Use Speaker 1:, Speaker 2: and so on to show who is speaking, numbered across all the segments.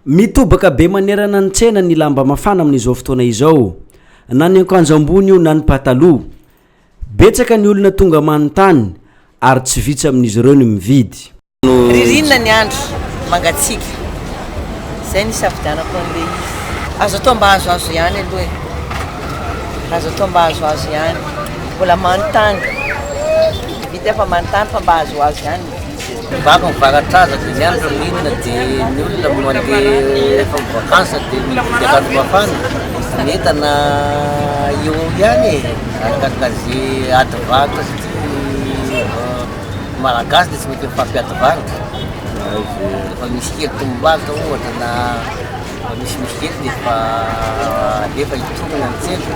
Speaker 1: Mitobaka be manerana ny tsena ny lamba mafana amin'izao fotoana izao, na ny ankanjo ambony io na ny pataloha. Betsaka ny olona tonga manontany ary tsy vitsy amin'izy ireo ny mividy. Ririnina ny
Speaker 2: andro, mangatsiaka. Izay no isafidianako an'ilay izy. Azo atao mba azoazo ihany aloha e. Azo atao mba azoazo ihany. Mbola manontany. Vita fa manontany fa mba azoazo ihany. Mivaky
Speaker 3: mivaratraza dia ny andro ririnina dia ny olona mandeha rehefa mi-vacances dia mividy akanjo mafana. Ny entana eo eo ihany e, arakaraka ze ady varotra satria ny Malagasy dia tsy mety mifampiady varotra. Rehefa misy kely tombomb'aritra ohatra na misimisy kely dia efa alefa hitorina ny tsena.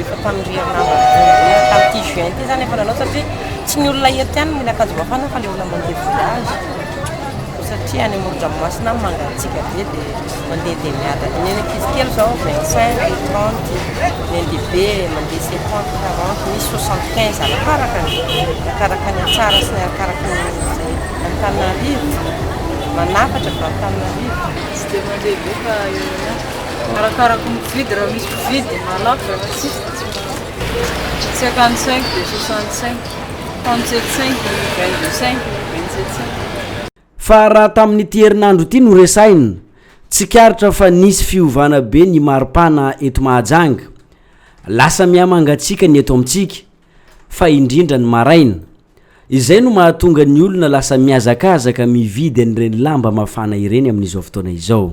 Speaker 2: Efa tamin'ny herinandro tamin'ity juin ity izany efa nanao satria tsy ny olona eto ihany no mila akanjo mafana fa ilay olona mandeha voyage satria any amoron-dranomasina any mangatsiaka be dia mandeha dia miadana ny ankizy kely izao 25 30 ny andehibe mandeha 50 40 misy 75 arakaraka ny arakaraka ny tsara sy ny arakaraka ny izay Antananarivo manafatra avy Antananarivo tsy dia mandeha
Speaker 4: be fa eo ihany Arakaraka ny mpividy, raha misy mpividy dia mahalafo e, raha tsisy dia tsy mahalafo. Cinquante cinq dia soixante cinq, trente sept cinq, vingt deux cinq, vingt sept cinq. Fa raha
Speaker 1: tamin'ity herinandro ity no resahina, tsikaritra fa nisy fiovana be ny maripana eto Mahajanga. Lasa mihamangatsiaka ny eto amintsika, fa indrindra ny maraina. Izay no mahatonga ny olona lasa mihazakazaka mividy an'ireny lamba mafana ireny amin'izao fotoana izao.